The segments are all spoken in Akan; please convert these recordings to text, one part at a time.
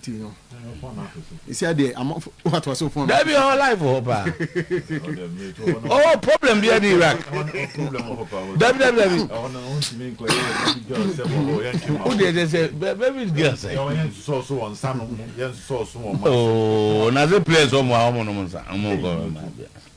Ti no. Isi ade amafo wa to aso phone. Dabi ho live ho pa. Oh problem bi adi Iraq. Dabi dabi dabi. O de se se baby girl say. Oh na ze place o mo a o mo no mo sa. O mo ko ma bia.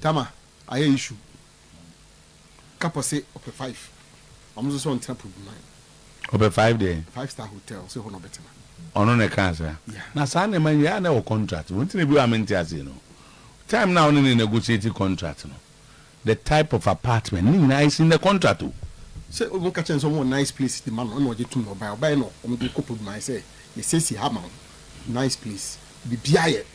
Tama ayɛ issue ka pɔ se ɔpɛ five ɔno nso sɛ ɔntena po dunan. Ɔpɛ five deɛn? Five star hotel ɔse hɔ na ɔbɛtena. Ɔno na ɛkaa saa? Yeah. Na saa nneɛma yi yɛ a na ɛwɔ contract mu nti na ebi wɔ a mente aseɛ no time no a wo ne no negotiate contract no the type of apartment ne nyinaa is in the contract o. Sɛ ɔmo ka kyerɛ no sɛ ɔmo wɔ nice place de ma no ɛna ɔgye tom na ɔbaeɛ, ɔbaeɛ na ɔmo de kɔ po dunan sɛ yɛsiesie ha ma wo nice place biribiara yɛ.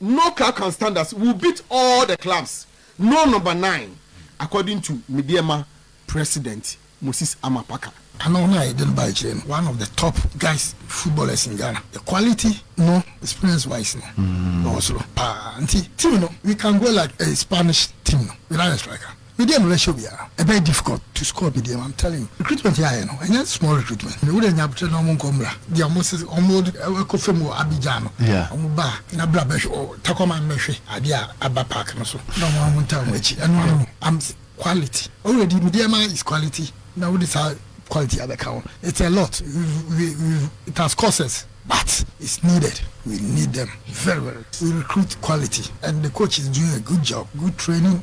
no club can stand us we will beat all the clubs no number nine according to Medeɛma president Moses Amapaka. Ana wɔn a yɛde no baeɛ kyerɛ no one of the top guys footballers in Ghana the quality no experience wise no ɔwɔ soro paa nti team no we can go like a Spanish team no without a striker. Medeɛ me bɛhyɛ obiara ɛbɛyɛ difficult to score me deɛ I'm telling you recruitment yɛ ayɛ no ɛnyɛ small recruitment me wodɛ nya aboterɛ na ɔmo nkɔ mmra deɛ ɔmo se ɔmo ɛkɔ fam wɔ Abidjan no ɔmo ba a na bra bɛhwɛ ɔ Tacoma no bɛhwɛ adeɛ a aba park no so na ɔmo ɔmo ntaa ɔmo akyi ɛno ano no I'm quality already me deɛ ma is quality na wode saa quality abɛka ho it's a lot we we it has cost us but it's needed we need them very very we recruit quality and the coach is doing a good job good training.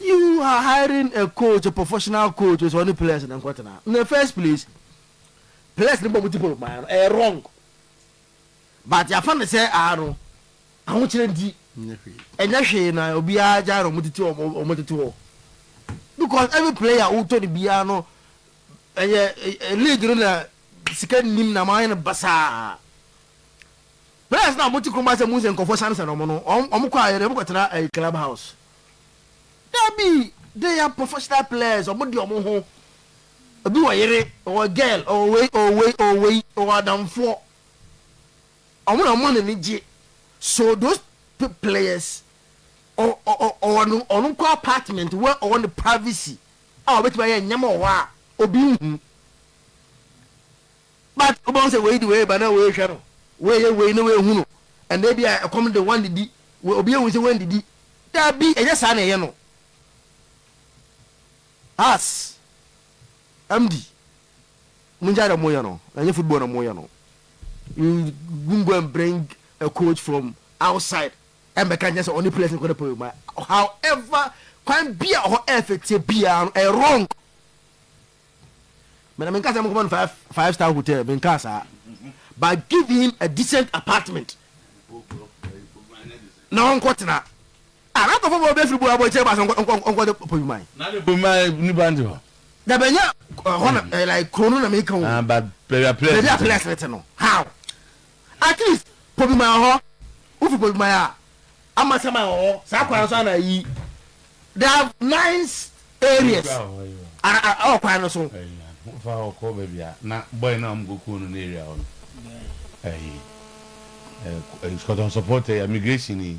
You are hiring a coach, a professional coach, ɔsɛ ɔne players no nkɔtena. In the first place, players no bɔ mo tipol maa no, ɛyɛ wrong. But yɛafa no sɛ aa no, ahokyerɛ nti, ɛnyɛ hwee na obiara gyae na wɔtete wɔn tete hɔ. Because every player wotɔ no biara no, ɛyɛ league no na sika nnim na wɔayɛ no basaa. Prayers na ɔmo te kurom asɛ muhu sɛ nkorɔfoɔ sane sane ɔmo no ɔmo kɔ ayɛdɛ ɔmo kɔ tena ɛyi club house dabi they are professional players ɔmo de ɔmo ho obi wɔ yere ɔwɔ girl ɔwɔ wei ɔwɔ wei ɔwɔ wei ɔwɔ adamfoɔ ɔmo na ɔmo nani gye so those players ɔ ɔ ɔ ɔwɔ no ɔno nko apartment wɔ ɔwɔ ne privacy a ɔbɛtumi ayɛ nneɛma wɔ hɔ a obi nhu. But wobɛhu sɛ wei de wei reba na wei rehwɛ no, wei reyɛ wei na wei rehu no. Ɛnna ebia ɛkɔm de woannidi, wei obi ahu sɛ woannidi. Dabi, ɛnyɛ saa na ɛyɛ no. As, MD, mongyae deɛ moyɛ no, ɛnyɛ football na moyɛ no. You won't go and bring a coach from outside ɛmmɛka nkyɛn sɛ ɔne players no kɔda pɛwɛ mu. However, kwan bi a ɔhɔ ɛfɛteɛ biara no, ɛyɛ wrong. Me na menka sɛ monkɔma no five five star hotel menkaa saa but give him a decent apartment na ɔnkɔ tena a na nkɔfo bɔ bɛfiri bu abɔ akyire ba sɛ ɔnkɔ de pɔ dwuma yi. na de pɔ ma nipa nti hɔ. dabi ɛnyɛ hɔ na like kuro no na meka o. ah but baabi a players no te no how. At least Pobiman wɔ hɔ, wo fi Pobiman a, Amasaman wɔ hɔ, saa kwan no so a na ayi, there are nice areas ɛwɔ kwan no so. Wo fa hɔ kɔ baabi a na boy no a wɔn kɔ kuo no ne area hɔ no, ɛyi, ɛɛ, Kɔtɔnsɔpɔ tɛ, immigration yi,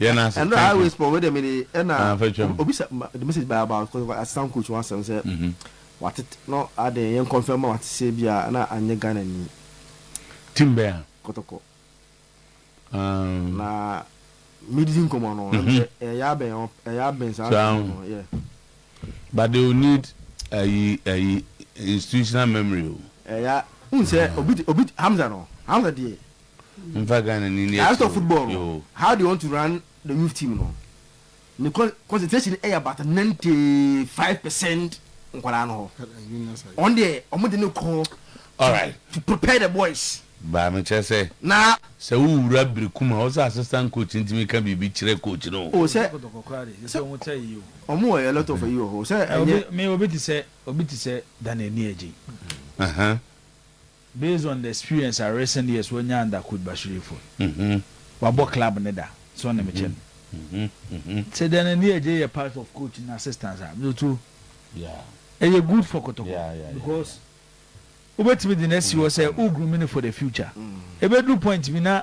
Yɛ no ase. Ɛno a always pɔ wei deɛ mede ɛna obisa the message by about kɔsɛ kɔ asisam coach ho asɛm sɛ watete no adeɛ yɛn kɔnfɛn ma wate sɛ bi a na anyɛ Ghana ni. Team bɛn a? Kɔtɔkɔ. Na medidi nkɔmɔ no ɛyɛ abɛn ɛyɛ abɛn saa nkɔmɔ no yɛ. But they will need ayi ayi institutional memory o. Ɛyɛ n sɛ obi obi Hamza no Hamza deɛ. Mfa Ghana ni no ato mu yoo. How do you want to run the youth team no ne concentration yɛ about ninety five percent nkwadaa no hɔ wɔn deɛ wɔn de ne kɔ to prepare the boys. Baa me kyerɛ sɛ na sɛ wo wura biri kum a wo sɛ assistant coach no tumi ka biribi kyerɛ coach no o. O sɛ sɛ wɔn wɔ a lot of ayi wɔ hɔ sɛ ɛnyɛ. Me obi te sɛ obi te sɛ Daniel Nieji. Ɛhɛn. Based on the experience a recent years wanya under coach Bashir Ifoh yi, wabɔ club no da sɛ ɔne me kyɛ no. Sɛ Daniel Nieje yɛ part of coach no assistants a, me too ɛyɛ good for Kotoko because wobɛtumi de no asi hɔ sɛ wo groom no for the future. Ɛbɛduru point bi na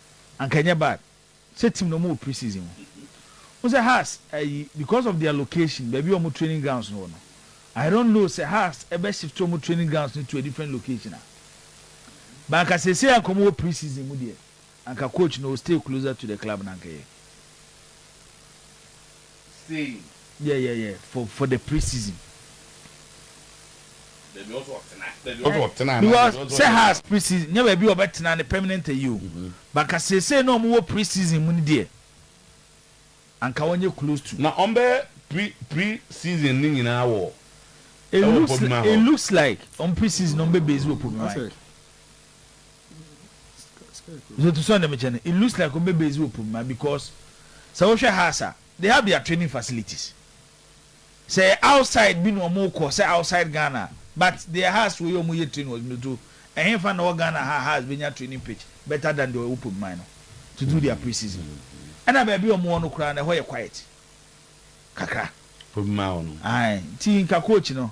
Anka ɛnyɛ bad sɛ team no wɔwɔ pre-season mu. Wohu sɛ Hearts ayi because of their location, baabi a wɔn training grounds no wɔ no. I don't know sɛ Hearts bɛ shift wɔn training grounds no to a different location a. But anka seesei anka wɔwɔ pre-season mu deɛ, anka coach no will stay closer to the club na anka ɛyɛ. Sei. Yeah yeah yeah for for the pre season. Baabi a ɔsɛ ɔtena baabi a ɔsɛ ɔtena. Because sɛ Hearts pre season nyɛ baabi a ɔbɛ tena ne permanent ayi o but anka seesei na ɔmo wɔ pre season mu no deɛ anka ɔnyɛ close to. Na ɔmo bɛ pre pre season no nyinaa wɔ ɛwɔ Podmah hɔ. It looks like ɔmo pre season no ɔmo bɛ base wɔ Podmah. so to so na mekyɛ no it looks like wɔn bɛ base wɔ pomma because sɛ wohwɛ house a they have their training facilities sɛ yɛ outside bi na wɔn kɔ sɛ outside ghana but their house wɔ yɛ wɔn yɛ training wɔ to ɛhɛn fa na wɔ ghana ha house bɛ nya training pitch better than deɛ wɔ pomma no to do their pre-season ɛna baabi wɔn wɔ no koraa na ɛhɔ yɛ quiet kakra pomma wɔ no ayi ti nka coach no.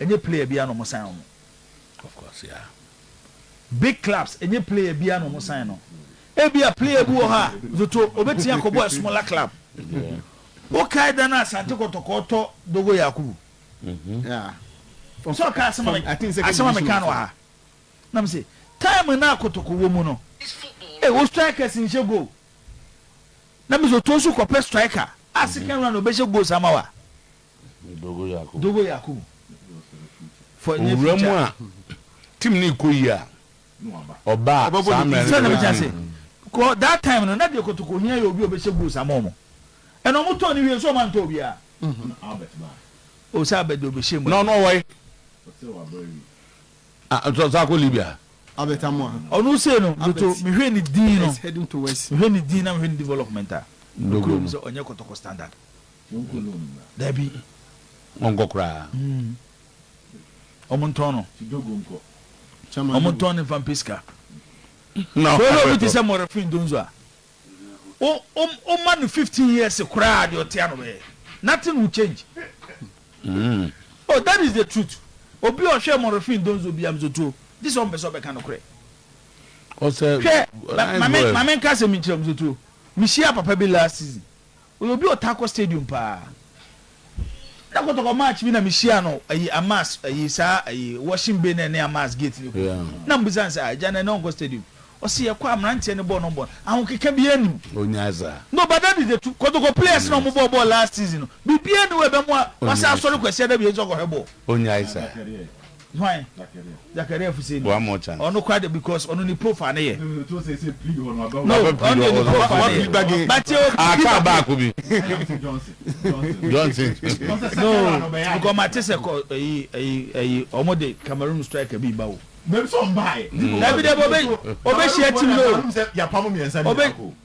Ɛnyɛ player biara na ɔmo sign ɔmo. Of course yeah big clubs ɛnyɛ player biara na ɔmo sign no. Ebia player bi wɔ hɔ a zoto obetumi akɔbɔ a smaller club. Wo kae da no a Asante Kɔtɔkɔɔ tɔ Dogo Yakubu? Yeah. Sɛ ɔka asɛm a asɛm a meka no wɔ ha. Na me se time no a Kɔtɔkɔ wɔ mu no eh wo strikers nhyɛ goal. Na me zoto nso kɔpɛ striker a second round obɛhyɛ goals ama wo a. Dogo Yakubu for near future. Owura mu a team no rekɔ yie a, ɔba a saa mmerɛ no bɛbɔ ne din. Kɔ that time no na deɛ kotoko hia yɛ obi a ɔbɛhyɛ goals ama wɔn ɛna wɔn tɔn no wie nso wɔn antɔ obiara. O sɛ Albert deɛ ɔbɛhyɛ mu. Na ɔno ɔwɔ he? Ɔsan akɔ Libya. Albert Amoah. Ɔno sei no Doto mehwɛ ne din no mehwɛ ne din na mehwɛ ne development a, nokorɛ mu sɛ ɔnyɛ kotoko standard. Dabi, ɔnkɔ koraa. Ɔmo ntɔn no. Ɔmo ntɔn no nfa mpɛ sika. Wɔn obi te sɛ Mɔrɛfin Donzo a, o o o ma no fifteen years koraa deɛ ɔte ano bɛyɛ. Nothing will change. Mm. Oh, that is the truth. Obi a ɔhwɛ Mɔrɛfin Donzo bi amzo tuo, gye sɛ ɔmpɛ sɛ ɔbɛka no korɛ. Ɔsɛ. Hwɛ, ma ma me ma me nka asɛm nkyerɛ amzo tuo. Mehyia papa bi last season. Ɔyɛ obi a ɔtaa kɔ stadium paa. Da kɔtɔkɔ match bi na me hyia no ayi Amas ayi saa ayi washing bay na ɛne Amas gate no ku. Na me bisa no sɛ ah agya na ɛnɛ ɔnkɔ stadium. Ɔse yɛkɔ a mmeranteɛ no bɔɔ no bɔn. Ahokeka biaa nnim. Ɔnyaa saa. No but that is the truth. Kɔtɔkɔ players na ɔmo bɔɔ bɔɔl last season no biribiaa nni hɔ a ɛbɛmoa wasan asɔre Kwasiada bio nso akɔhwɛ bɔɔl. Ɔnyae saa. Hwan? Zakaria fi sɛ ni. Ɔno kora de because ɔno ne profile ne yɛ. No, ɔno de ne profile ne yɛ. Bate o. Ah, kaa baako bi. Johnson. No, because ma te sɛ kɔ ɛyi ɛyi ɛyi ɔmo de Cameroon striker bi ba o. Mɛm sɛ ɔmbae. Dabi dabi obe obe hyia team no. Yɛapam mmiɛnsa ne baako.